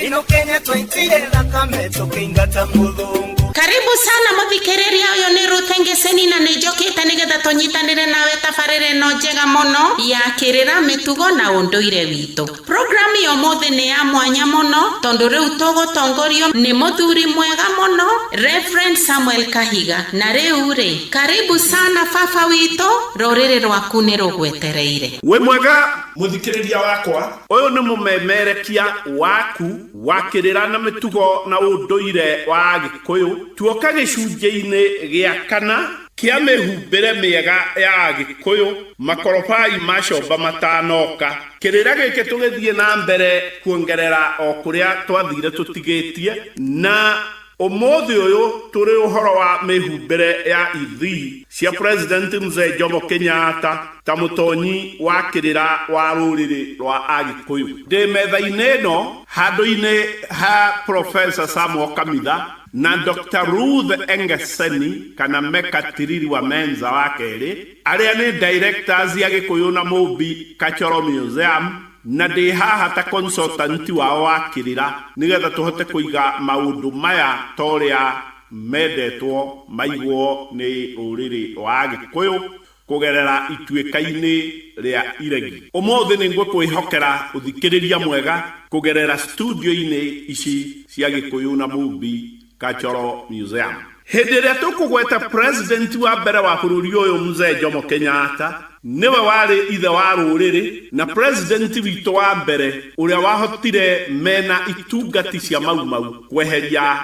ino kenya twaitire thakame tũkĩingata mũthũngũ karibu sana mũthikĩrĩria ũyũ nĩ rũtengeseni na nĩnjũkĩte nĩgetha tũnyitanĩre nawe tabarĩra ĩno njega mũno ya kĩrĩra mĩtugo na ũndũire witũ programu ya ũmũthĩ nĩ ya mwanya mũno tondũ rĩu tũgũtongorio nĩ mũthuri mwega mũno Reverend Samuel Kahiga na rĩu rĩ karibu sana baba witũ rũrĩrĩ rwaku nĩ rũgwetereire wĩ mwega mũthikĩrĩria wakwa Ũyũ nĩ mũmemerekia waku wa kĩrĩra na mĩtugo na ũndũire wa Agĩkũyũ. Tuoka gĩcunjĩ-inĩ gĩa kana kĩa mĩhumbĩre mĩega ya Agĩkũyũ, Makorobai ma Comba matanoka. Kĩrĩra gĩkĩ tũgĩthiĩ na mbere kuongerera o kũrĩa twathire tũtigĩtie na Ũmũthĩ ũyũ tũrĩ ũhoro wa mĩhumbĩre ya ithii cia President Mzee Jomo Kenyatta ta mũtonyi wa kĩrĩra wa rũrĩrĩ rwa Agĩkũyũ. Ndĩ metha-inĩ ĩno handũ-inĩ ha Professor Sam Okamitha na Doctor Ruth Engeseni kana Meka Tiriri wa Menza wa kerĩ, arĩa nĩ Directors Agĩkũyũ na Mũmbi Kachoro Museum, Na ndĩ haha ta consultant wao wa kĩrĩra nĩ getha tũhote kũiga maũndũ maya ta ũrĩa mendetwo maigwo nĩ rũrĩrĩ rwa Agĩkũyũ kũgerera ituĩka-inĩ rĩa iregi. Ũmũthĩ nĩ ngũkwĩhokera ũthikĩrĩria mwega kũgerera studio-inĩ ici cia Gĩkũyũ na Mũmbi ka chọrọ museum. Hĩndĩ ĩrĩa tũkũgweta president wa mbere wa bũrũri ũyũ Mzee Jomo Kenyatta, nĩwe warĩ ithe wa rũrĩrĩ na president witũ wa mbere ũrĩa wahotire mena itungati cia Mau Mau kweheria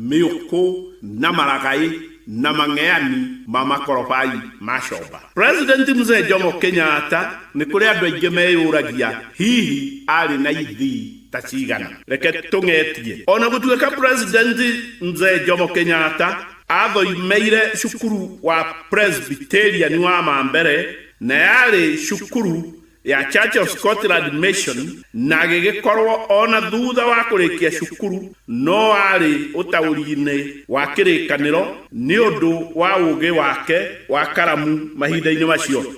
mĩũkũ na maragaĩ na mang'eani ma makorobai ma comba. President Mzee Jomo Kenyatta nĩ kũrĩ andũ aingĩ meyũragia hihi arĩ na ithii. taciigana reke tũng'etie o na gũtuĩka president mzee jomo kenyatta athoimeire cukuru wa presbyterian wa mambere na yarĩ cukuru ya church of scotland mission na gĩgĩkorwo o na thutha wa kũrĩkia cukuru no arĩ ũtaũri-inĩ wa kĩrĩkanĩro nĩ ũndũ wa ũũgĩ wake wa karamu mahinda-inĩ macio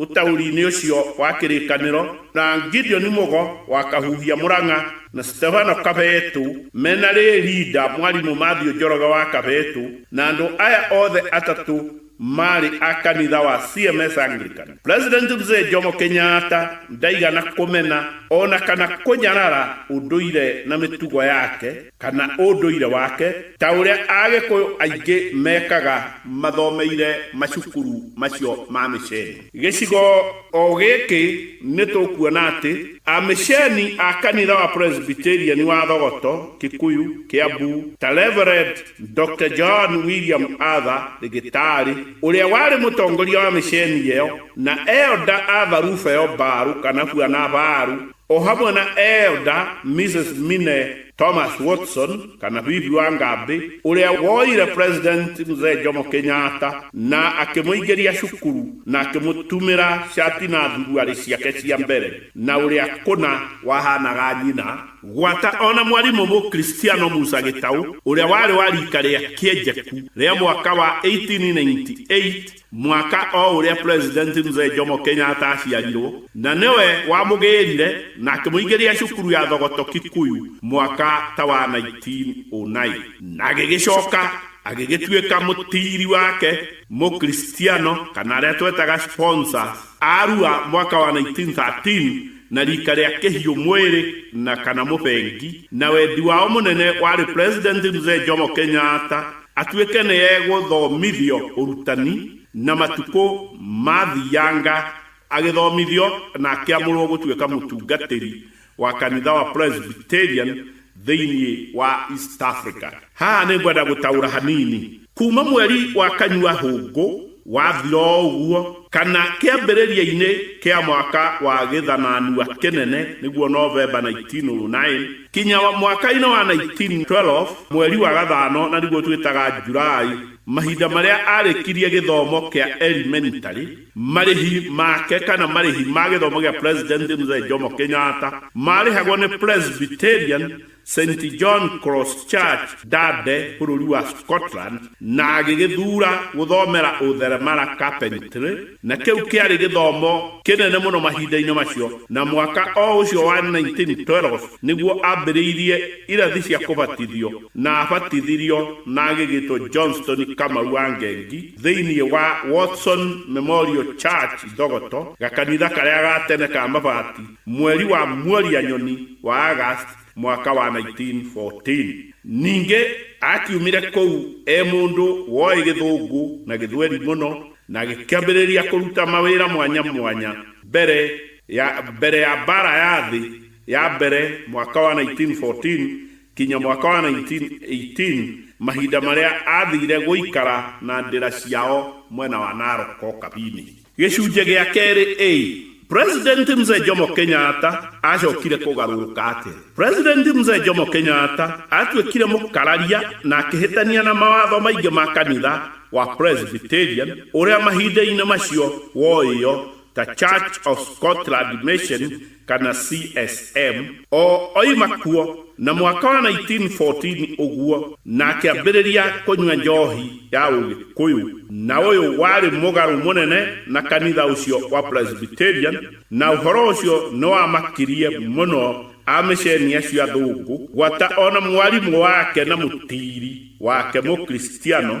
Ũtaũri-inĩ ũcio wa kĩrĩkanĩro, na Gideon Mũgo wa Kahuhia Mũrang'a na Stefano Kabetu mena Ray Linda, Mwarimũ Mathew Njoroge wa Kabetu na andũ aya othe atatũ marĩ a kanitha wa CMS Anglican. President Mzee Jomo Kenyatta ndaigana kũmena ona kana kũnyarara ũndũire na mĩtugo yake. kana ũndũire wake ta ũrĩa Agĩkũyũ aingĩ mekaga mathomeire macukuru macio ma mĩceni. Gĩcigo o gĩkĩ nĩ tũkuona atĩ amĩceni a kanitha wa Presbyterian wa Thogoto, Kikuyu, Kiambu, ta Rev. Doctor John William Arthur Rĩgĩtaarĩ, ũrĩa warĩ mũtongoria wa mĩceni ĩyo, na Elder Arthur Rufeo Mbaru kana Bwana Baru, O hamwe na Elder Mrs. Minne Thomas Watson, kana bibi wa Ngambĩ, ũrĩa woire President Mzee Jomo Kenyatta na akĩmũingĩria cukuru na akĩmũtumĩra cati na thuruarĩ ciake cia mbere, na ũrĩa kũna wahanaga nyina gwata, o na mwarimũ Mũkristiano Musa Gĩtaũ, ũrĩa warĩ wa rika rĩa Kĩenjeku rĩa mwaka wa 1898, Mwaka o ũrĩa President Mzee Jomo Kenyatta aaciarirwo, na nĩwe wamũgĩĩrire na akĩmũingĩria cukuru ya Thogoto Kikuyu mwaka ta wa 1909, na agĩgĩcoka agĩgĩtuĩka mũtiiri wake Mũkristiano, kana arĩa twetaga sponsors, Arua mwaka wa 1913, na rika rĩa kĩhiũ mwĩrĩ na kana mũbengi na wendi wao mũnene warĩ President Mzee Jomo Kenyatta atuĩke nĩ egũthomithio ũrutani na matukũ maathianga agĩthomithio na akĩamũrwo gũtuĩka mũtungatĩri wa kanitha wa Presbyterian thĩinĩ wa East Africa. Haha nĩ ngwenda gũtaũra hanini. Kuma mweri wa kanyua hũngũ wathira ũguo kana kĩambĩrĩria-inĩ kĩa mwaka wa gĩthananua kĩnene nĩguo Novemba 1909 kinya wa mwaka-inĩ wa 1912 mweri wa gathano na nĩguo twĩtaga July, mahinda marĩa arĩkirie gĩthomo kĩa elementary, marĩhi make kana marĩhi ma gĩthomo gĩa president mzee jomo kenyatta marĩhagwo nĩ presbyterian st john cross church dade bũrũri wa scotland na agĩgĩthura gũthomera ũtheremara carpentry na kĩu kĩarĩ gĩthomo kĩnene mũno mahinda-inĩ macio na mwaka o ũcio wa 1912 nĩguo ambĩrĩirie irathi cia kũbatithio na abatithirio na agĩgĩtwo johnston kamau wa ngengi Thĩinĩ wa Watson Memorial Church Thogoto, gakanitha karĩa ga tene ka mabati, mweri wa Muoria-nyoni wa August mwaka wa 1914. Ningĩ aakiumire kũu e mũndũ woĩ Gĩthũngũ na Gĩthweri mũno na agĩkĩambĩrĩria kũruta mawĩra mwanya mwanya mbere ya mbere ya Mbaara ya Thĩ ya Mbere mwaka wa 1914 Kinya mwaka wa 1918, mahinda marĩa aathire gũikara na ndĩra ciao mwena wa Narok Kabini. Gĩcunjĩ gĩa kerĩ A, President Mzee Jomo Kenyatta aacokire kũgarũrũka atĩa? President Mzee Jomo Kenyatta aatuĩkire mũkararia na akĩhĩtania na mawatho maingĩ ma kanitha wa Presbyterian ũrĩa mahinda-inĩ macio woĩo ta Church of Scotland Mission kana CSM o oima kuo na mwaka wa 1914 ũguo na akĩambĩrĩria kũnyua njohi ya ũgĩkũyũ na ũyũ warĩ mũgarũ mũnene na kanitha ũcio wa Presbyterian na ũhoro ũcio nĩwamakirie mũno amĩceni acio athũngũ gwata ona mwarimũ wake na mũtiiri wake mũkristiano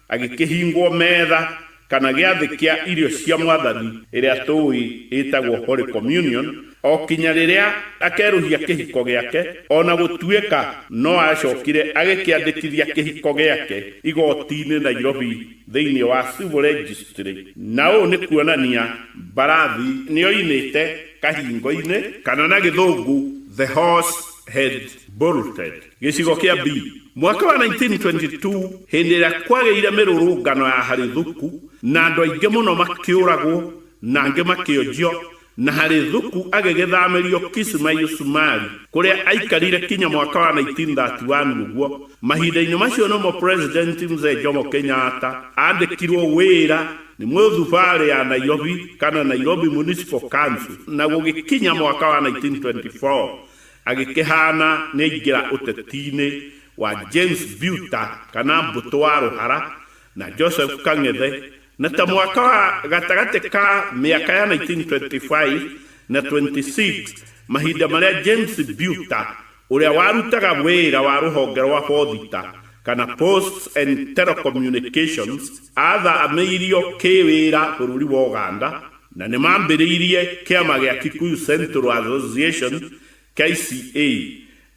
Agĩkĩhingwo metha, kana gĩathĩ kĩa irio cia Mwathani, ĩrĩa tũũĩ ĩtagwo Holy Communion, o kinya rĩrĩa akerũhia kĩhiko gĩake, o na gũtuĩka no aacokire agĩkĩandĩkithia kĩhiko gĩake igooti-inĩ Nairobi thĩinĩ wa Civil Registry, na ũũ nĩ kuonania mbarathi nĩ oinĩte kahingo-inĩ, kana na Gĩthũngũ, the horse had bolted. Gĩcigo kĩa B. Mwaka wa 1922, hĩndĩ ĩrĩa kwagĩire mĩrũrũngano ya Harithuku, na andũ aingĩ mũno makĩũragwo na angĩ makĩonjio, na Harithuku agĩgĩthamĩrio Kismayu Sumari, kũrĩa aikarire kinya mwaka wa 1931, ũguo, mahinda-inĩ macio nĩmo President Mzee Jomo Kenyatta aandĩkirwo wĩra nĩ Mũthubarĩ ya Nairobi, kana Nairobi Municipal Council, na gũgĩkinya mwaka wa 1924, Agĩkĩhaana nĩaingĩra ũteti-inĩ wa James Biuta kana Mbũtũ wa Rũhara na Joseph Kang'ethe na ta mwaka wa gatagatĩ ka mĩaka ya 1925 na 26 mahinda marĩa James Biuta ũrĩa warutaga wĩra wa rũhonge rwa Boothita kana Posts and Telecommunications aatha-amĩirio kĩ-wĩra bũrũri wa Ũganda na nĩ maambĩrĩirie kĩama gĩa Kikuyu Central Association, KCA,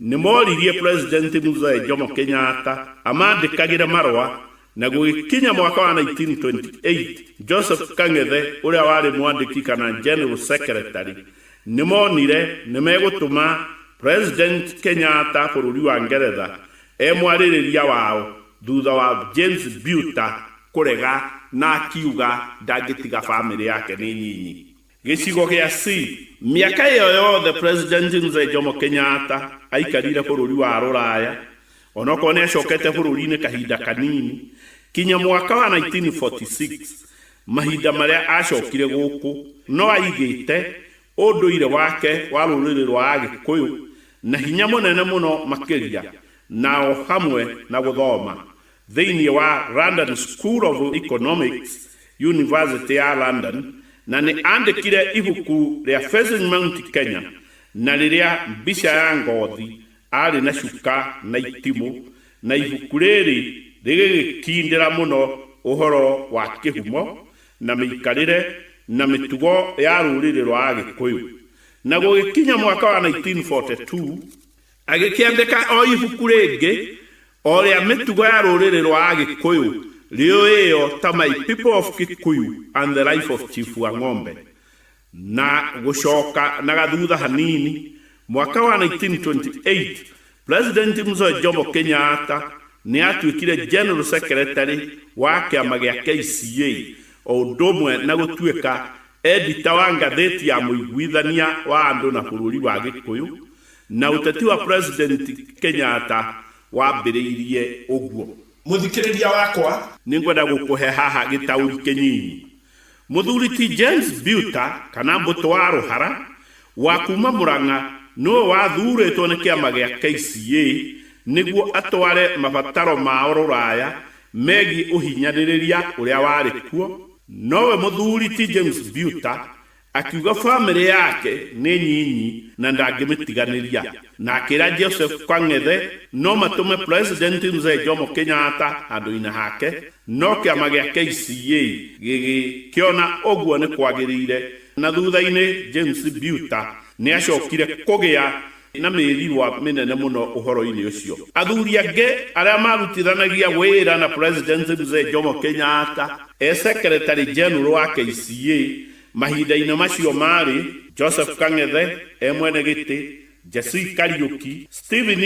nĩ mooririe President Mzee Jomo Kenyatta amandĩkagĩre marũa, na gũgĩkinya mwaka wa 1928, Joseph Kang'ethe ũrĩa warĩ mwandĩki kana General Secretary, nĩ moonire nĩ megũtũma President Kenyatta bũrũri wa Ngeretha E mwarĩrĩria wao thutha wa James Biuta kũrega na akiuga ndangĩtiga famĩlĩ yake nĩ nyinyi. Gĩcigo gĩa C. Mĩaka ĩyo yothe President Mzee Jomo Kenyatta aikarire bũrũri wa Rũraya, onokorwo nĩacokete bũrũri-inĩ kahinda kanini, kinya mwaka wa 1946 mahinda marĩa acokire gũkũ no aigĩte ũndũire wake wa rũrĩrĩ rwa Agĩkũyũ na hinya mũnene mũno makĩria na o hamwe na gũthoma thĩinĩ wa London School of Economics, Yunivasĩtĩ ya London, na nĩ aandĩkire ibuku rĩa Facing Mount Kenya na rĩrĩa Mbica ya Ngothi arĩ na cuka na itimũ, na ibuku rĩrĩ rĩgĩgĩtindĩra mũno ũhoro wa kĩhumo na mĩikarĩre na mĩtugo ya rũrĩrĩ rwa Agĩkũyũ, na gũgĩkinya mwaka wa 1942 agĩkĩandĩka o ibuku rĩngĩ o rĩa mĩtugo ya rũrĩrĩ rwa Agĩkũyũ rĩoĩo ta My People of Kikuyu and the Life of Chief Wang'ombe, Na gũcoka na gathutha hanini, mwaka wa 1928, President Mzoe Jomo Kenyatta nĩ aatuĩkire General Secretary wa kĩama gĩa KCA o ũndũ ũmwe na gũtuĩka Editor wa ngathĩti ya Mũiguithania wa Andũ na Bũrũri wa Gĩkũyũ, na ũteti wa President Kenyatta wambĩrĩirie ũguo. Mũthikĩrĩria wakwa. Nĩ ngwenda gũkũhe haha gĩtaũri kĩnyinyi Mũthuri ti James Buter kana Mbũtũ wa Rũhara wa kuuma Mũrang'a nĩwe wathuurĩtwo nĩ kĩama gĩa KCA nĩguo atware mabataro mao rũraya megiĩ ũhinyanĩrĩria ũrĩa warĩ kuo, nowe Mũthuri ti James Buter Akiuga famĩlĩ yake nĩ nyinyi na ndangĩmĩtiganĩria na akĩra Joseph Kang'ethe no matũme President Mzee Jomo Kenyatta handũ-inĩ hake no kĩama gĩa KCA gĩgĩkĩona ũguo nĩ kwagĩrĩire na thutha-inĩ James Biuta nĩ acokire kũgĩa na mĩigua mĩnene mũno ũhoro-inĩ ũcio. Athuri angĩ arĩa maarutithanagia wĩra na President Mzee Jomo Kenyatta e Secretary General wa KCA mahinda-inĩ macio maarĩ, Joseph Kang'ethe e mwene gĩtĩ, Jessie Kariuki, Stephen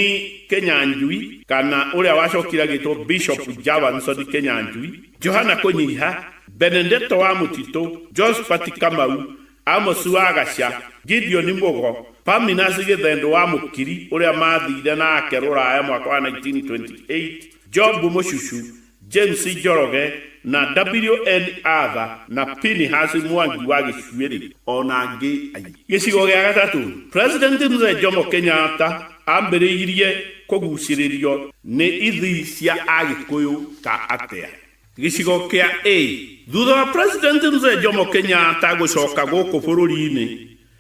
Kĩnyanjui kana ũrĩa wacokire agĩtwo Bishop Javanson Kĩnyanjui, Johana Kũnyiha, Benedetto wa Mũtitũ, Josphat Kamau Amosi wa Gacia, Gideoni Mũgo, Paminasi Gĩthendũ wa Mũkiri ũrĩa maathire nake rũraya mwaka wa 1928, Job Mũcucu, James Njoroge, na WN Arthur na Pinehasi Mwangi wa Gĩcuĩrĩ, o na angĩ aingĩ. Gĩcigo gĩa gatatũ, President Mzee Jomo Kenyatta ambĩrĩirie kũgucĩrĩrio nĩ ithii cia Agĩkũyũ ta atĩa? Gĩcigo kĩa A. Thutha wa President Mzee Jomo Kenyatta gũcoka gũkũ bũrũri-inĩ,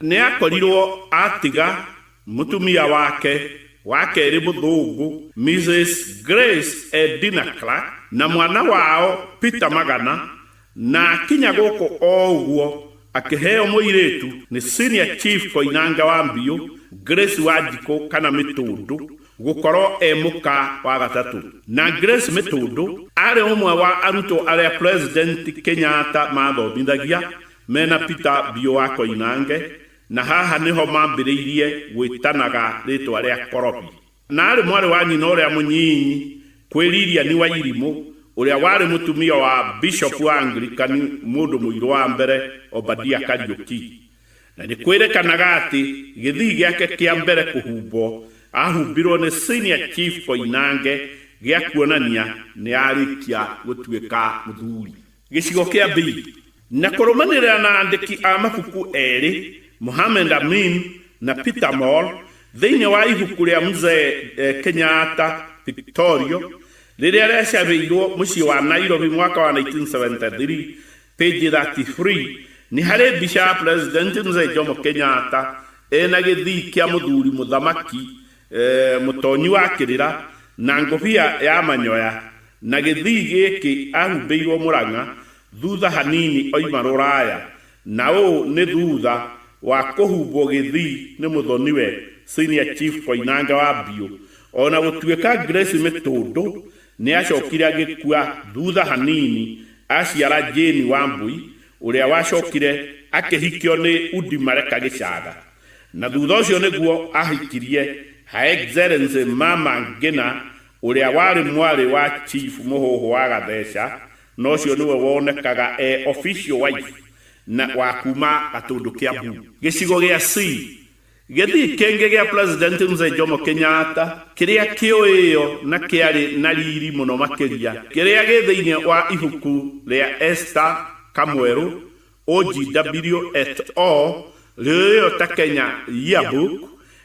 nĩ akorirũo atiga mũtumia wake wa kerĩ Mũthũngũ, Mrs. Grace Edina Clark, na mwana wao Peter Magana, na akinya gũkũ o ũguo akĩheo mũirĩtu nĩ Senior Chief Koinange wa Mbiũ, Grace Wanjikũ kana Mĩtũndũ, Gũkorwo e mũka wa gatatũ. Na Grace Mĩtũndũ arĩ ũmwe wa arutwo arĩa President Kenyatta maathomithagia mena Peter Biũ wa Koinange na haha nĩho mambĩrĩirie gwĩtanaga rĩtwa rĩa Korobi. Na arĩ mwarĩ wa nyina ũrĩa mũnyinyi kwĩ Lilian Wairimũ ũrĩa warĩ mũtumia wa Bishop wa Anglican mũndũ mũirũ wa mbere Obadia Kariũki. Na nĩ kwĩrĩkanaga atĩ gĩthii gĩake kĩa mbere kũhumbwo ahumbirwo nĩ Senior Chief Koinange gĩa kuonania nĩ arĩkia gũtuĩka mũthuri. Gĩcigo kĩa B. Na kũrũmanĩrĩra na andĩki a mabuku erĩ, Mohamed Amin na Peter Moll, thĩinĩ wa ibuku rĩa Mzee Kenyatta Pictorial rĩrĩa rĩacabĩirwo mũciĩ wa Nairobi mwaka wa 1973, Pe je da ti free ni hale mbishi ya Pulezidenti Mzee Jomo Kenyatta e na gĩthikia mũthuri mũthamaki eh, mũtonyi wa kĩrĩra na ngũbia ya manyoya na gĩthii gĩkĩ ahumbĩirwo Mũrang'a thutha hanini oima rũraya na ũũ nĩ thutha wa kũhumbwo gĩthii nĩ mũthoniwe Senior Chief Koinange wa Mbiũ ona gũtuĩka Grace Mĩtũndũ Nĩ acokire agĩkua thutha hanini aciara Jane Wambui ũrĩa wacokire akĩhikio nĩ Udi Mareka Gĩcaga na thutha ũcio nĩguo ahikirie Her Excellency Mama Ngina ũrĩa warĩ mwarĩ wa Chief Mũhũhũ wa Gatheca na ũcio nĩwe wonekaga e official wife wa kuma Gatũndũ Kiambu. Gĩcigo gĩa Sii Gĩthii kĩngĩ gĩa President Mzee Jomo Kenyatta kĩrĩa kĩoĩĩo na kĩarĩ na riri mũno makĩria kĩrĩa gĩ thĩinĩ wa ibuku rĩa Esther Kamwerũ, OGW et al. Rĩũĩĩo ta Kenya Yearbook,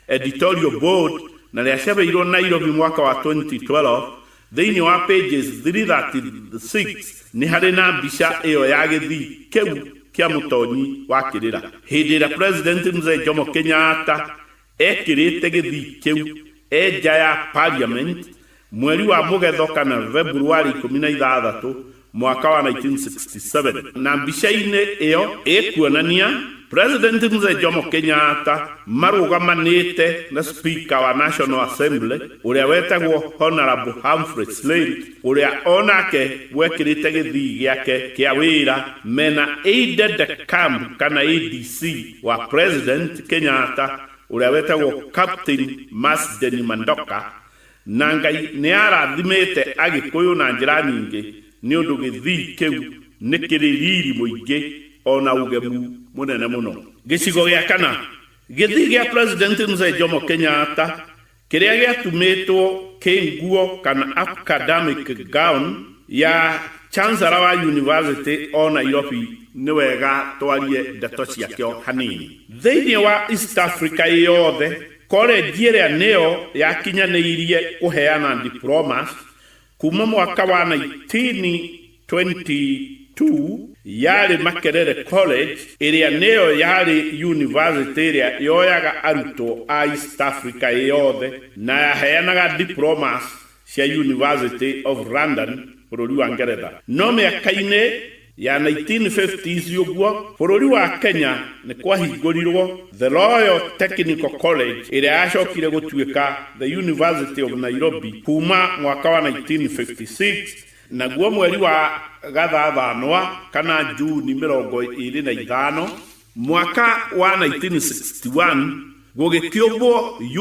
Editorial Board, na rĩacabeirwo Nairobi mwaka wa 2012, Thĩinĩ wa pages 336 nĩ harĩ na mbica ĩyo ya gĩthii kĩu kĩa mũtonyi wa kĩrĩra. Hĩndĩ ĩrĩa President Mzee Jomo Kenyatta ekĩrĩte gĩthii kĩu e nja ya Parliament mweri wa Mũgetho kana February ikũmi na ithathatũ mwaka wa 1967 na mbica-inĩ ĩyo ĩkuonania President Mzee Jomo Kenyatta marũgamanĩte na Speaker wa National Assembly ũrĩa wetagwo Honorable Humphrey Slate ũrĩa onake wekĩrĩte gĩthii gĩake kĩa wĩra mena aide de camp kana ADC wa President Kenyatta ũrĩa wetagwo Captain Masden Mandoka Na Ngai nĩarathimĩte Agĩkũyũ na njĩra nyingĩ nĩ ũndũ gĩthii kĩu nĩ kĩrĩ riri mũingĩ o na ũgemu mũnene mũno. Gĩcigo gĩa kana, Gĩthii gĩa President Mzee Jomo Kenyatta kĩrĩa gĩatumĩtwo kĩ nguo kana acadamic gown ya Chancellor wa University o Nairobi nĩ wega twarie ndeto ciakĩo hanini. Thĩinĩ wa East Africa ĩyothe, Kolenji ĩrĩa nĩyo yakinyanĩirie kũheana diplomas kuuma mwaka wa 1922 yarĩ Makerere College, ĩrĩa nĩyo yarĩ yunivasĩtĩ ĩrĩa yoyaga arutwo a East Africa ĩyothe na yaheanaga diplomas cia University of London bũrũri wa Ngeretha. No mĩaka-inĩ ya 1950s ũguo, bũrũri wa Kenya nĩ kwahingũrirũo The Royal Technical College ĩrĩa yacokire gũtuĩka The University of Nairobi kuuma mwaka wa 1956, naguo mweri wa Gathathanwa kana June 25, Mwaka wa 1961 gũgĩkĩũmbwo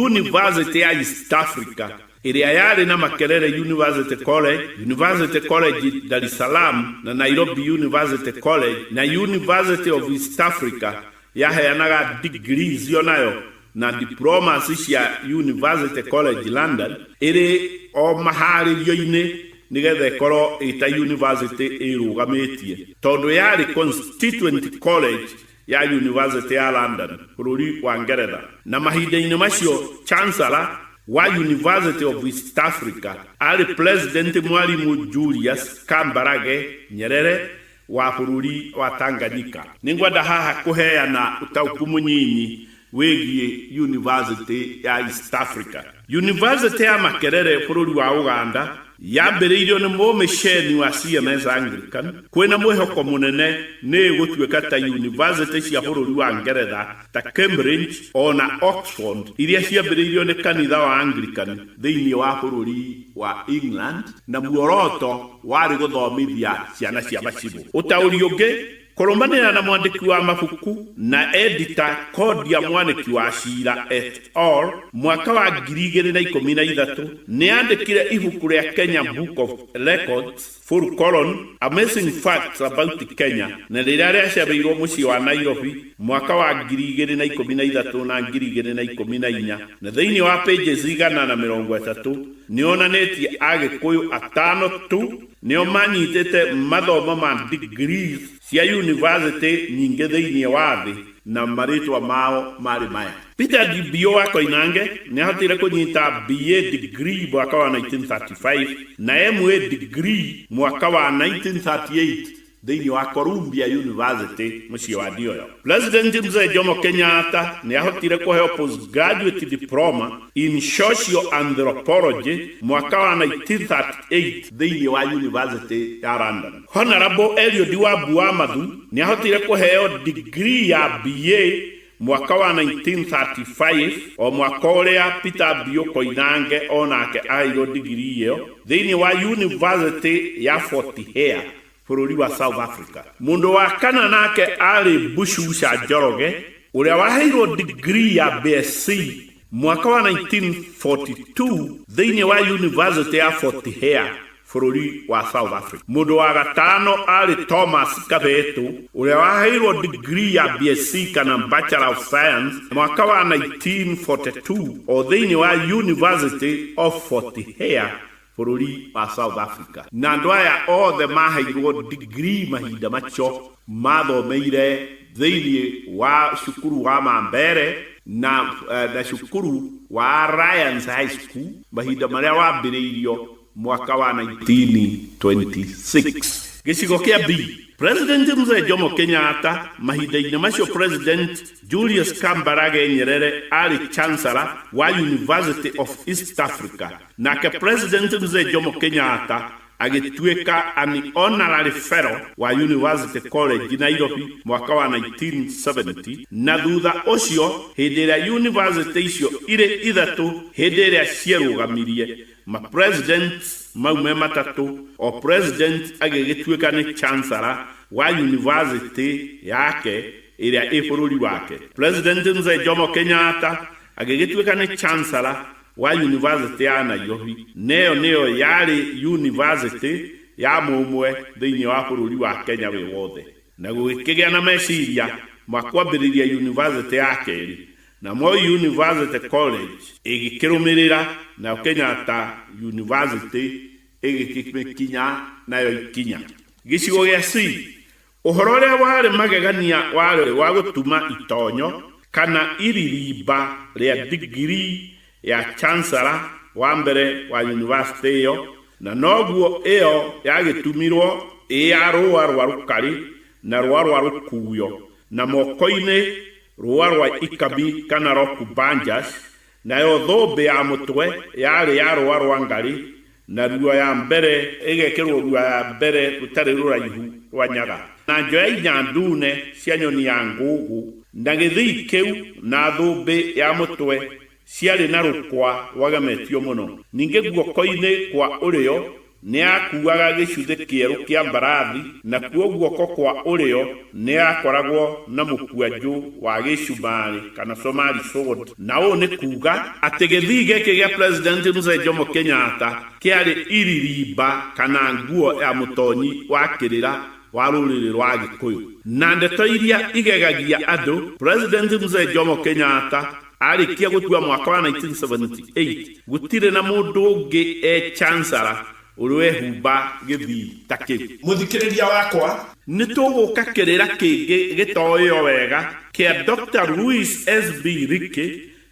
University ya East Africa ĩrĩa yarĩ na Makerere University College, University College Dar es Salaam na Nairobi University College na University of East Africa yaheanaga digrii icio nayo na diplomas cia University College London ĩrĩ o maharĩrio-inĩ nĩgetha ĩkorwo ĩta university ĩrũgamĩtie tondũ yarĩ constituent college ya University ya London bũrũri wa Ngeretha na mahinda-inĩ macio Chancellor wa University of East Africa arĩ President Mwalimu Julius Kambarage Nyerere wa bũrũri wa Tanganyika. Nĩ ngwenda haha kũheana ũtaũku mũnyinyi wĩgiĩ Yunivasĩtĩ ya East Africa. Yunivasĩtĩ ya Makerere, bũrũri wa Ũganda, yambĩrĩirio nĩ mũmĩceni wa CMS Anglican. Kwĩna mwĩhoko mũnene nĩ ĩgũtuĩka ta yunivasĩtĩ cia bũrũri wa Ngeretha ta Cambridge o na Oxford iria ciambĩrĩirio nĩ kanitha wa Anglican thĩinĩ wa bũrũri wa England na muoroto Warĩ gũthomithia ciana cia macibũ. Ũtaũri ũngĩ, Kũrũmanĩrĩra na mwandĩki wa mabuku na edita Kodia Mwaniki wa Ciira et al. Mwaka wa ngiri igĩrĩ na ikũmi na ithatũ, nĩ aandĩkire ibuku rĩa Kenya Book of Records, Full Colon, Amazing Facts About Kenya na rĩrĩa rĩacabĩirũo mũciĩ wa Nairobi mwaka wa ngiri igĩrĩ na ikũmi na ithatũ na ngiri igĩrĩ na ikũmi na inya na thĩinĩ wa pages igana na mĩrongo ĩtatũ Nĩonanĩtie Agĩkũyũ atano tu nĩo manyitĩte mathomo ma degree cia yunivasĩtĩ nyingĩ thĩinĩ wa thĩ na marĩtwa mao marĩ maya. Peter Ndimbiũ wa Koinange nĩahotire kũnyita BA degree mwaka wa 1935 na MA degree mwaka wa 1938 Thĩinĩ wa Columbia University, mũciĩ wa Ndioyo, President Mzee Jomo Kenyatta nĩ aahotire kũheo Postgraduate Diploma in Social Anthropology mwaka wa 1938 thĩinĩ wa University ya London. Honourable Eliud Wambu Wamathu nĩ aahotire kũheo Degree ya BA Mwaka wa 1935, o mwaka ũrĩa Peter Bio Koinange o nake aheirwo ndigirii ĩyo thĩinĩ wa Yunivasĩtĩ ya Fort Hare, bũrũri wa South Africa. Mũndũ wa kana nake aarĩ Bushusha Njoroge, ũrĩa waheirwo ndigirii ya BSc Mwaka wa 1942, thĩinĩ wa Yunivasĩtĩ ya Fort Hare, bũrũri wa South Africa, mũndũ wa gatano aarĩ Thomas Kavethu, ũrĩa waheirũo digrii ya BSc kana Bachelor of Science mwaka wa 1942 o thĩinĩ wa University of Fort Hare, bũrũri wa South Africa, na andũ aya othe maheirwo degree mahinda macio mathomeire thĩinĩ wa cukuru wa Mambere na, na cukuru wa Alliance High School mahinda marĩa wambĩrĩirio mwaka wa 1926. Gĩcigo kĩa B, President Mzee Jomo Kenyatta, mahinda-inĩ macio President Julius Kambarage Nyerere arĩ Chancellor wa University of East Africa, Na ke President Mzee Jomo Kenyatta agĩtuĩka an Honorary Fellow wa University College, Nairobi mwaka wa 1970, na thutha ũcio hĩndĩ ĩrĩa yunivasĩtĩ icio irĩ ithatũ hĩndĩ ĩrĩa cierũgamirie, ma Presidents mau me matatũ, o President agĩgĩtuĩka nĩ Chancellor wa yunivasĩtĩ yake ĩrĩa ĩ bũrũri wake. President Mzee Jomo Kenyatta agĩgĩtuĩka nĩ Chancellor wa Yunivasĩtĩ ya Nairobi, na ĩyo nĩyo yarĩ yunivasĩtĩ ya mũmwe thĩinĩ wa bũrũri wa Kenya wĩ wothe. Na gũgĩkĩgĩa na meciria ma kwambĩrĩria yunivasĩtĩ ya kerĩ, na Moi University College ĩgĩkĩrũmĩrĩra, nayo Kenyatta University ĩgĩkĩmĩkinya nayo ikinya. Gĩcigo gĩa C, Ũhoro ũrĩa warĩ magegania warĩ wa gũtuma itonyo kana iririmba rĩa digirii ya chancellor wa mbere wa yunivasĩtĩ ĩyo, na noguo ĩyo yagĩtumirwo ĩ ya rũũa rwa rũkarĩ na rũũa rwa rũkuuyo, na moko-inĩ rũũa rwa ikami kana rokubanjas, Nayo thũmbĩ ya mũtwe yarĩ ya rũũa rwa ngarĩ, na ruo ya mbere ĩgekĩrwo ruo ya mbere rũtarĩ rũraihu rwa nyaga, na njoya inya ndune cia nyoni ya ngũũgũ, na gĩthii kĩu na thũmbĩ ya mũtwe ciarĩ na rũkũa rwagemetio mũno. Ningĩ guoko-inĩ kwa ũrĩo Nĩaakuuaga gĩcuthĩ kĩerũ kĩa mbarathi, nakuo guoko kwa ũrĩo nĩakoragwo na mũkwanjũ wa gĩcumarĩ, kana Somali sword, na ũũ nĩ kuuga atĩ gĩthii gĩkĩ gĩa President Mzee Jomo Kenyatta kĩarĩ iririmba kana nguo ya mũtonyi wa kĩrĩra wa rũrĩrĩ rwa Agĩkũyũ. Na ndeto iria igegagia andũ, President Mzee Jomo Kenyatta Arĩkia gũkua mwaka wa 1978, gũtirĩ na mũndũ ũngĩ e Chancellor ũrĩ wehumba gĩthii ta kĩu. Mũthikĩrĩria wakwa! Nĩ tũgũka kĩrĩra kĩngĩ gĩtoĩo wega kĩa Doctor Luis SB Ricky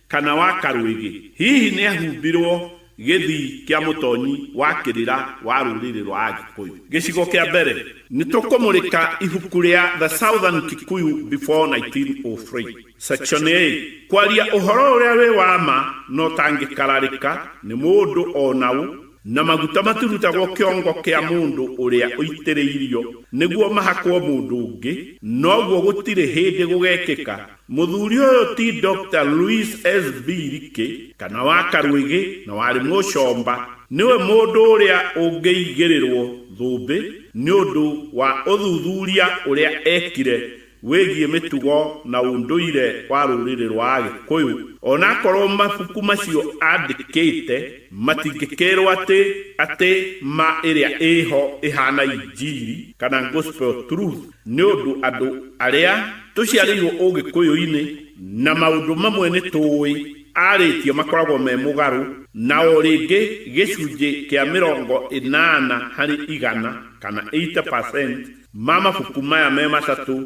kana wa Karwĩgĩ. Hihi nĩ ahumbirwo gĩthii kĩa mũtonyi wa kĩrĩra wa rũrĩrĩ rwa Agĩkũyũ? Gĩcigo kĩa mbere, nĩ tũkũmũrĩka ibuku rĩa The Southern Kikuyu Before 1903. Section A, Kwaria ũhoro ũrĩa wĩ wa ma na ũtangĩkararĩka nĩ mũndũ o na ũ, na maguta matirutagwo kĩongo kĩa mũndũ ũrĩa ũitĩrĩirio nĩguo mahakwo mũndũ ũngĩ, na ũguo gũtirĩ hĩndĩ gũgekĩka. Mũthuri ũyũ ti Doctor Luis S. Biriki, kana wa Karwĩgĩ na warĩ Mũcomba, nĩwe mũndũ ũrĩa ũngĩigĩrĩrwo thũmbĩ nĩ ũndũ wa ũthuthuria ũrĩa ekire, wĩgiĩ mĩtugo na ũndũire wa rũrĩrĩ rwa Agĩkũyũ. O na akorũo mabuku macio aandĩkĩte matingĩkĩrũo atĩ atĩ ma ĩrĩa ĩ ho ĩhaana Injiri, kana Gospel Truth, nĩ ũndũ andũ arĩa tũciarĩirũo Ũgĩkũyũ-inĩ na maũndũ mamwe nĩ tũĩ arĩtie makoragwo me mũgarũ na o rĩngĩ gĩcunjĩ kĩa mĩrongo ĩnana harĩ igana, kana 80%, ma mabuku maya me matatũ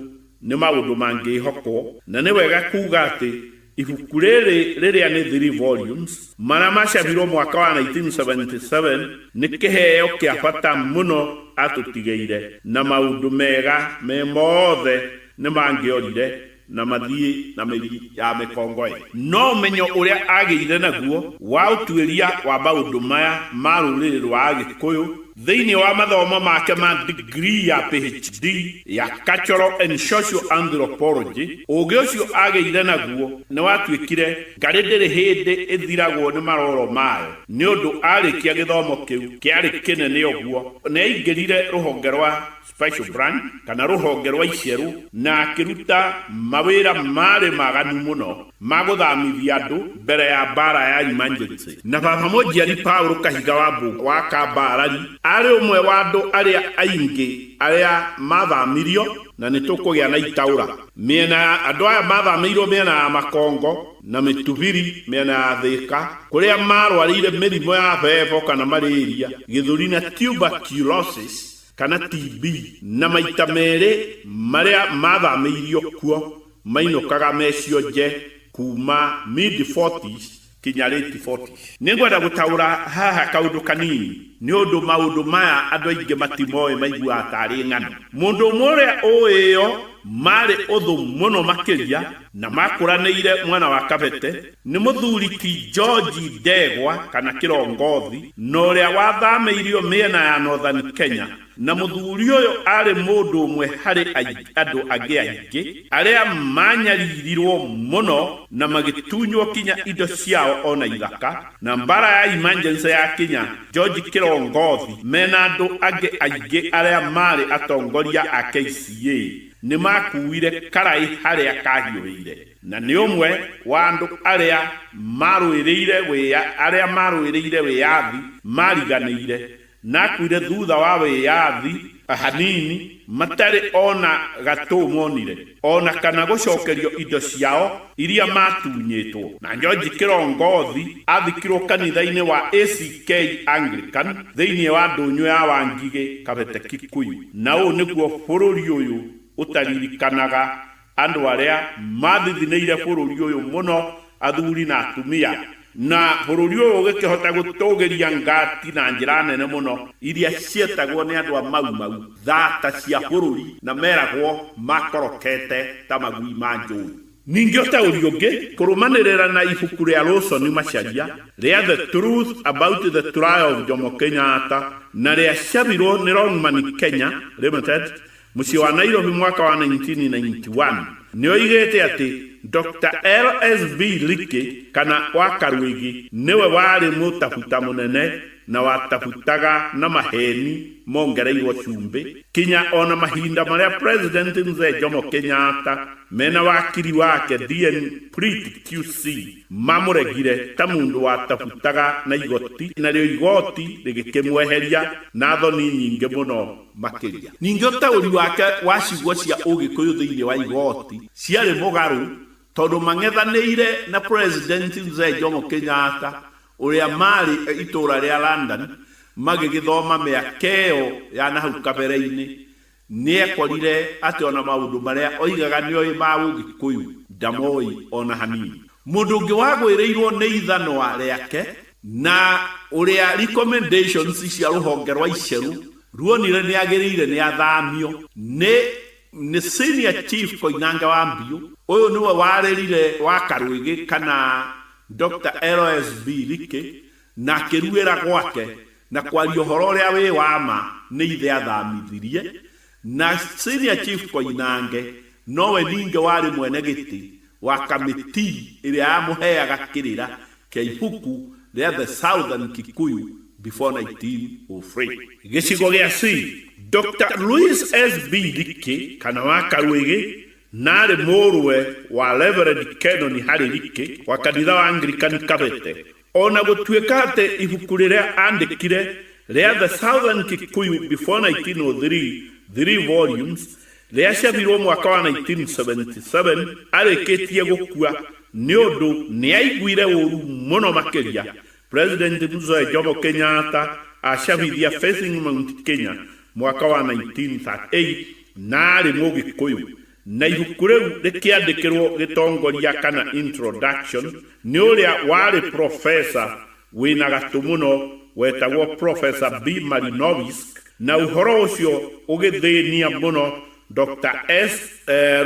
nĩ maũndũ mangĩĩhokwo, na nĩ wega kuuga atĩ ibuku rĩrĩ rĩrĩa nĩ three volumes, marĩa macabirũo mwaka wa 1977, nĩ kĩheo kĩa bata mũno atũtigĩire, na maũndũ mega me mothe nĩ mangĩorire Na mathiĩ na mĩri ya mĩkongoĩ. No ũmenyo ũrĩa aagĩire naguo wa ũtuĩria wa maũndũ maya ma rũrĩrĩ rwa Agĩkũyũ thĩinĩ wa mathomo make ma degree ya PHD ya Cultural and Social Anthropology, ũũgĩ ũcio aagĩire naguo nĩ watuĩkire ngarĩ ndĩrĩ hĩndĩ ĩthiragwo nĩ maroro mayo, nĩ ũndũ aarĩkia gĩthomo kĩu kĩarĩ kĩnene ũguo, nĩ aingĩrire rũhonge rwa special branch, kana rũhonge rwa iceru, na akĩruta mawĩra maarĩ maganu mũno ma gũthamithia andũ mbere ya mbaara ya emergency. Na baba mũnjiari Paul Kahiga Wambu wa Kambarari aarĩ ũmwe wa andũ arĩa aingĩ arĩa maathamirio, na nĩ tũkũgĩa na itaũra mĩena ya andũ aya maathamĩirwo mĩena ya Makongo na Mĩtubiri mĩena ya Thĩka kũrĩa maarwarĩire mĩrimũ ya bebo kana malaria, gĩthũri na tuberculosis kana TB na maita merĩ marĩa mathamĩirio kuo mainũkaga mecionje kuuma mid forties kinya late forties. Nĩ ngwenda gũtaũra haha kaũndũ kanini nĩ ũndũ maũndũ maya andũ aingĩ matimoĩ maiguaga ta arĩ ng'ano. Mũndũ ũmwe ũrĩa ũĩ ĩyo marĩ ũthũ mũno makĩria na makũranĩire mwana wa Kabete, Nĩ mũthuri ti George Ndegwa kana Kĩrongothi na ũrĩa wathamĩirio mĩena ya Northern Kenya, na mũthuri ũyũ aarĩ mũndũ ũmwe harĩ andũ angĩ aingĩ arĩa maanyaririrũo mũno na magĩtunywo kinya indo ciao o na ithaka, na Mbaara ya Emergency yakinya, George Kĩrongothi me na andũ angĩ aingĩ arĩa maarĩ atongoria a KCA nĩ maakuuire karaĩ harĩa kaahiũhĩire. Na nĩ ũmwe wa andũ arĩa maarũĩrĩire wĩa, arĩa maarũĩrĩire wĩyathi maariganĩire, na akuire thutha wa wĩyathi hanini matarĩ o na gatũ monire, o na kana gũcokerio indo ciao iria maatunyĩtwo. Na George Kĩrongothi athikirwo kanitha-inĩ wa ACK Anglican thĩinĩ wa ndũnyũ ya Wangigĩ Kabete Kikuyu. Na ũũ nĩguo bũrũri ũyũ ũtaririkanaga Andũ arĩa maathithinĩire bũrũri ũyũ mũno, athuri na atumia, na bũrũri ũyũ ũgĩkĩhota gũtũũgĩria ngati na njĩra nene mũno, iria cietagwo nĩ andũ a Mau Mau thaata cia bũrũri na meragwo maakorokete ta magui ma njũũi. Ningĩ ũtaũri ũngĩ, kũrũmanĩrĩra na ibuku rĩa Roson Macharia rĩa The Truth About the Trial of Jomo Kenyatta na rĩa cabirwo nĩ Longman Kenya Limited, Mũciĩ wa Nairobi mwaka wa 1991 nĩ oigĩte atĩ Doctor LSV Ricky kana wa Karuĩgi nĩwe warĩ mũtabuta mũnene na watabutaga na maheeni mongereirwo cumbĩ kinya o na mahinda marĩa President Mzee Jomo Kenyatta mena wakiri wake Dean Preet QC mamũregire ta mũndũ watabutaga na igoti narĩo igoti rĩgĩkĩmweheria na thoni nyingĩ mũno. makĩria. Ningĩ ũtaũri wake wa ciugo cia Ũgĩkũyũ thĩinĩ wa igooti ciarĩ mũgarũ tondũ mang'ethanĩire na President Mzee Jomo Kenyatta ũrĩa maarĩ itũũra rĩa London magĩgĩthoma mĩaka ĩyo ya na hau kabere-inĩ, nĩ ekorire atĩ o na maũndũ marĩa oigaga nĩ oĩ ma Ũgĩkũyũ ndamoĩ o na hanini. Mũndũ ũngĩ wagũĩrĩirũo nĩ ithanwa rĩake Na ũrĩa recommendations cia rũhonge rwa Iceru ruonire nĩagĩrĩire nĩathamio nĩ nĩ Senior Chief Koinange wa Mbiũ, ũyũ nĩwe warĩrire wa Karwĩgĩ kana Doctor LSB Likey na akĩruĩra gwake na kwaria ũhoro ũrĩa wĩ wa ma nĩ ithe athamithirie Na Senior Chief Koinange nowe ningĩ warĩ mwene gĩtĩ wa kamĩtii ĩrĩa yamũheaga kĩrĩra kĩa ibuku rĩa The Southern Kikuyu Before 1903. Gĩcigo gĩa C, Doctor Luis SB Likĩ kana wa Karuĩgĩ na arĩ mũrũwe wa Reverend Kenoni Harĩ Likĩ wa kanitha wa Anglikani Kabete O na gũtuĩka atĩ ibuku rĩrĩa aandĩkire rĩa The Southern Kikuyu Before 1903, three volumes, rĩacabirũo mwaka wa 1977 arĩkĩtie gũkua nĩ ũndũ nĩ aaiguire ũũru mũno makĩria, President Mzee Jomo Kenyatta acabithia Facing Mount Kenya mwaka wa 1938 na arĩ Mũgĩkũyũ, Na ibuku rĩu rĩkĩandĩkĩrũo gĩtongoria kana introduction nĩ ũrĩa warĩ profesa wĩ na gatũ mũno wetagwo Professor B. Malinowsk, na ũhoro ũcio ũgĩthĩnia mũno Doctor S.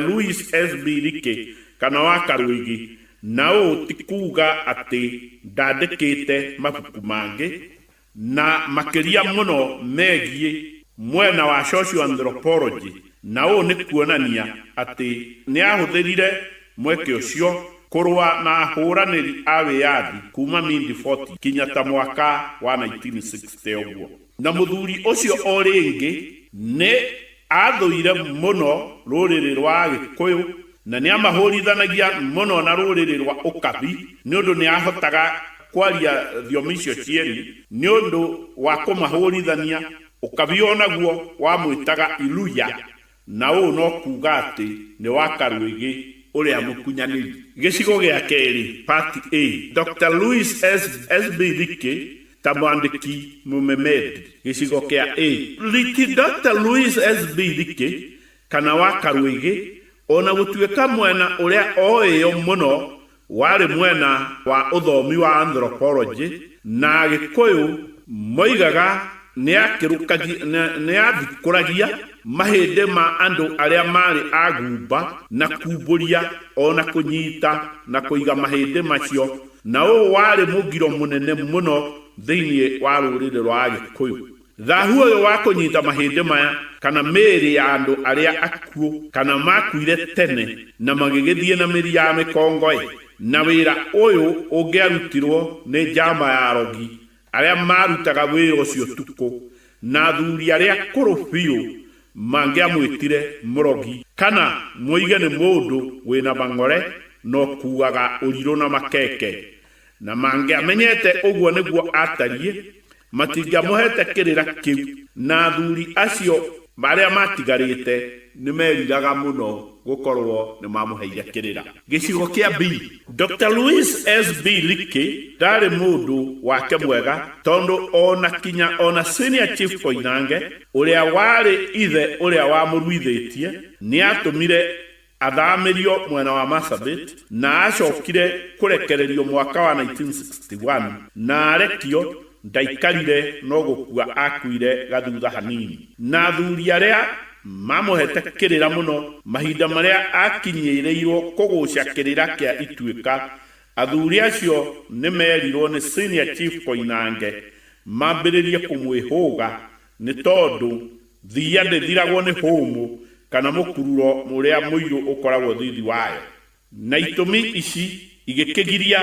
Louis SB. Leakey, kana wa Karũĩgĩ, na ũũ ti kuuga atĩ ndandĩkĩte mabuku mangĩ, na makĩria mũno megiĩ mwena wa socioanthropology, na ũũ nĩ kuonania atĩ nĩ aahũthĩrire mweke ũcio kũrũa na ahũranĩri a wĩyathi kuuma mid-40 kinya ta mwaka wa 1960 ũguo. Na mũthuri ũcio o rĩngĩ nĩ. Aathũire mũno rũrĩrĩ rwa Agĩkũyũ na nĩ aamahũũrithanagia mũno na rũrĩrĩ rwa Ũkabi nĩ ũndũ nĩ aahotaga kwaria thiomi icio cierĩ. Nĩ ũndũ wa kũmahũũrithania, Ũkabi o naguo wamwĩtaga Iluya, na ũũ no kuuga atĩ nĩ wa Karwĩgĩ ũrĩa mũkunyanĩri. Gĩcigo gĩa kerĩ, Part A, Doctor Louis SB Thikĩ ta mwandĩki Mũmemendi, gĩcigo kĩa A. Riki Doctor Luis SB. Riki, kana wa Karũĩgĩ, o na gũtuĩka mwena ũrĩa oĩyo mũno warĩ mwena wa ũthomi wa anthropology na Agĩkũyũ moigaga nĩathikũragia mahĩndĩ ma andũ arĩa maarĩ a gumba na kumbũria o na kũnyita na kũiga mahĩndĩ macio. Na ũũ warĩ mũgiro mũnene mũno thĩinĩ wa rũrĩrĩ rwa Agĩkũyũ. Thahu ũyũ wa kũnyita mahĩndĩ maya, kana mĩĩrĩ ya andũ arĩa akuũ, kana maakuire tene na magĩgĩthiĩ na mĩri ya mĩkongo-ĩ, na wĩra ũyũ ũngĩarutirwo nĩ njamba ya arogi, Arĩa maarutaga wĩra ũcio ũtukũ, na athuri arĩa akũrũ biũ mangĩamwĩtire mũrogi kana moige nĩ mũndũ wĩ na mang'ore na ũkuuaga ũrirũ na makeke, na mangĩamenyete ũguo nĩguo aatariĩ, matingĩamũheete kĩrĩra kĩu, na athuri acio arĩa maatigarĩte. Nĩ meeriraga mũno gũkorũo nĩ mamũheire kĩrĩra. Gĩcigo kĩa B. Doctor Luis SB. Licky ndaarĩ mũndũ wake mwega tondũ o na kinya o na Senior Chief Koinange, ũrĩa warĩ ithe ũrĩa wamũruithĩtie, nĩ aatũmire athamĩrio mwena wa Marsabit na aacokire kũrekererio mwaka wa 1961 na arekio Ndaikarire no gũkua akuire gathutha hanini. Na athuri arĩa maamũheete kĩrĩra mũno mahinda marĩa aakinyĩrĩirwo kũgũca kĩrĩra kĩa ituĩka, athuri acio nĩ meerirwo nĩ Senior Chief Koinange mambĩrĩrie kũmwĩhũga nĩ tondũ thiia ndĩthiragwo nĩ hũmũ kana mũkururo ũrĩa mũirũ ũkoragwo thithi wayo. na itũmi ici igĩkĩgiria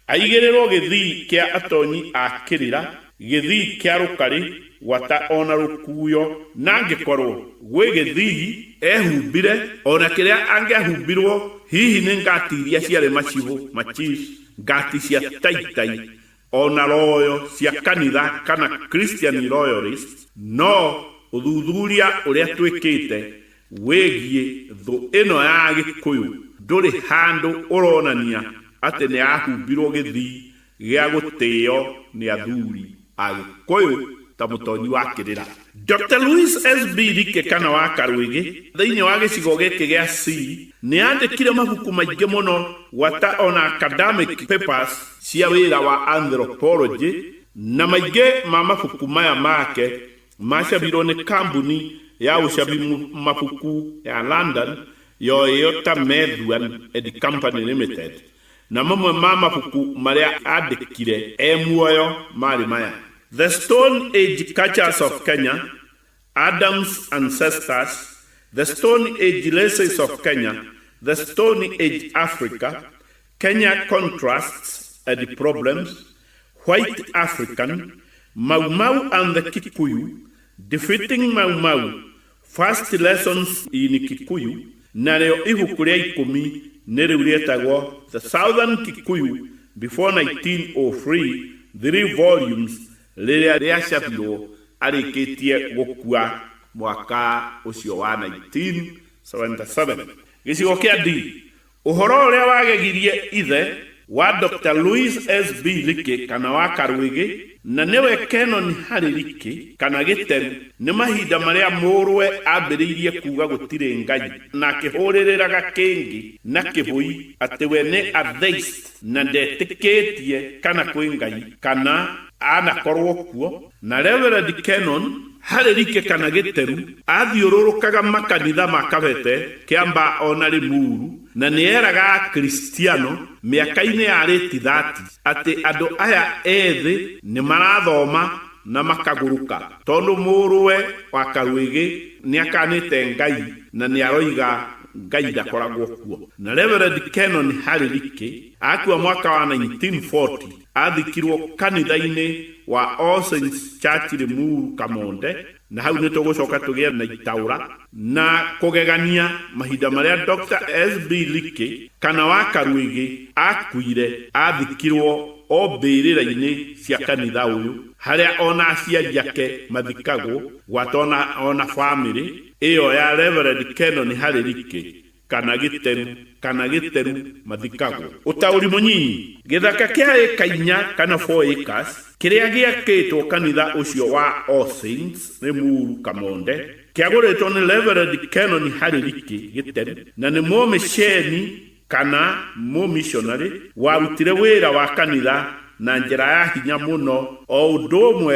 aigĩrĩrwo gĩthii kĩa atonyi a kĩrĩra, gĩthii kĩa rũkarĩ, gwata ona rũkuyo, na angĩkorwo gwĩ gĩthii ehumbire ona kĩrĩa angĩahumbirwo, hihi nĩ ngati iria ciarĩ macibũ, machifs, ngati cia taitai, O na royo cia kanitha kana Christian royalist no ũthuthuria ũrĩa twĩkĩte wĩgiĩ thũ ĩno ya Gĩkũyũ ndũrĩ handũ ũronania atĩ nĩ yahumbirwo gĩthii gĩa gũtĩo nĩ athuri a Gĩkũyũ ta Mũtonyi wa Kĩrĩra. Dr. Luis SB. Rike kana wa Karwĩgĩ thĩinĩ wa gĩcigo gĩkĩ gĩa C nĩ aandĩkire mabuku maingĩ mũno gwata ona academic papers cia wĩra wa anthropology na maingĩ ma mabuku maya make macabirwo nĩ kambuni ya ũcabi mabuku ya London yoĩo ta Methuen and Company Limited. Na mamwe ma mabuku marĩa aandĩkire e muoyo maarĩ maya. The Stone Age Cultures of Kenya, Adam's Ancestors, The Stone Age Races of Kenya, The Stone Age Africa, Kenya Contrasts and Problems, White African, Mau Mau and the Kikuyu, Defeating Mau Mau, First Lessons in Kikuyu narĩo ibuku rĩa ikũmi nĩ rĩu rĩetagwo The Southern Kikuyu Before 1903 Three Volumes rĩrĩa rĩacabirwo arĩkĩtie gũkua mwaka ũcio wa 1977. Gĩcigo kĩa D Ũhoro ũrĩa wagegirie ithe wa Dr. Louis S. B. Leakey kana wa Karwĩgĩ na nĩwe Canon Harry Leakey kana Gĩteru nĩ mahinda marĩa mũrũwe ambĩrĩirie kuuga gũtirĩ Ngai na akĩhũrĩrĩraga kĩngĩ na kĩbũi atĩ we nĩ atheist na ndetĩkĩtie kana kwĩ Ngai kana anakorwo kuo Na Reverend Kennon, harĩ rike kana gĩteru, aathiũrũrũkaga makanitha ma Kabete, Kĩamba o na Limuru, na nĩ eeraga Akristiano mĩaka-inĩ ya late thirty atĩ andũ aya ethĩ nĩ marathoma na makagũrũka tondũ mũrũwe wa Karuĩgĩ nĩ akaanĩte Ngai na nĩ aroiga Ngai ndakoragwo kuo. Na Reverend Kennon harĩ rike akua mwaka wa 1940. Athikirwo kanitha-inĩ wa All Saints Church Limuru Kamonde na hau nĩ tũgũcoka tũgĩe na itaũra na kũgegania mahinda marĩa Doctor SB Likey kana wa Karuĩgĩ akuire athikirwo o mbĩrĩra-inĩ cia kanitha ũyũ harĩa ona aciari ake mathikagwo gwata ona ona famĩlĩ ĩyo ya Reverend Kenoni Harĩ Likey kana gĩteru kana gĩteru mathikagwo. Ũtaũri mũnyinyi, Gĩthaka kĩa ĩka inya kana four acres kĩrĩa gĩakĩtwo kanitha ũcio wa All Saints, Limuru, Kamonde, kĩagũrĩtwo nĩ Reverend Canon Harry Riki, Gĩteru, na nĩ mũmĩceni kana mũmishonarĩ warutire wĩra wa kanitha na njĩra ya hinya mũno, o ũndũ ũmwe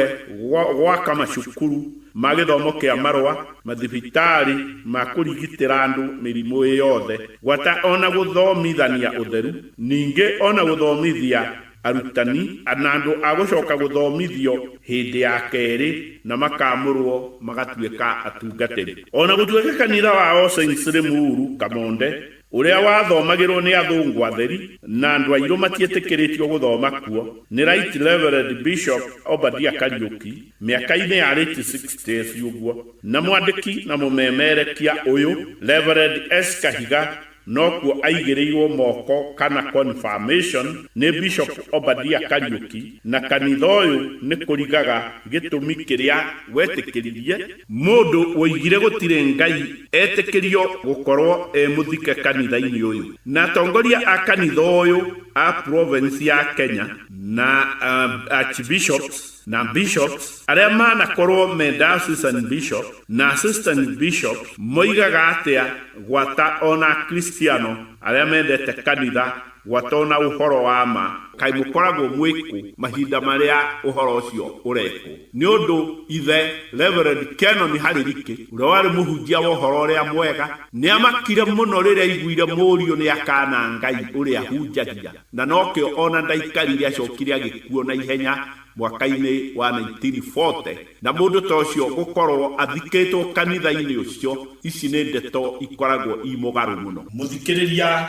gwa- gwaka macukuru ma gĩthomo kĩa marũa, mathibitarĩ ma kũrigitĩra andũ mĩrimũ ĩ yothe, gwata o na gũthomithania ũtheru, ningĩ o na gũthomithia arutani na andũ a gũcoka gũthomithio hĩndĩ ya kerĩ na makaamũrũo magatuĩka atungatĩri. O na gũtuĩka kanitha wa All Saints rĩ Muuru, Kamonde, Ũrĩa wathomagĩrũo nĩ athũngũ atheri na andũ airũ matietĩkĩrĩtio gũthoma kuo nĩ Right Reverend Bishop Obadia Kariuki mĩaka-inĩ ya late sixties ũguo, na mwandĩki na mũmemerekia ũyũ Reverend S. Kahiga nokuo aigĩrĩirũo moko kana confirmation nĩ Bishop Obadia Kariuki, na kanitha ũyũ nĩ kũrigaga gĩtũmi kĩrĩa wetĩkĩririe. Mũndũ woigire gũtirĩ Ngai etĩkĩrio gũkorwo e mũthike kanitha-inĩ ũyũ. Na atongoria a kanitha ũyũ a province ya Kenya na Archbishops na Bishops arĩa manakorwo me Diocesan Bishop na Assistant Bishops moigaga atĩa gwata ona Akristiano arĩa mendete kanitha Gwata o na ũhoro wa ma. Kaĩ mũkoragwo mwĩ kũ mahinda marĩa ũhoro ũcio ũrekwo? Nĩ ũndũ ithe, Reverend Kennon Haririke, ũrĩa warĩ mũhunjia wa ũhoro ũrĩa mwega, nĩ aamakire mũno rĩrĩa aaiguire mũriũ nĩ akaana Ngai ũrĩa ahunjagia, na nokĩo o na ndaikarire acokire agĩkuona ihenya mwaka-inĩ wa 1940. Na mũndũ ta ũcio gũkorũo athikĩtwo kanitha-inĩ ũcio, ici nĩ ndeto ikoragwo i mũgarũ mũno. Mũthikĩrĩria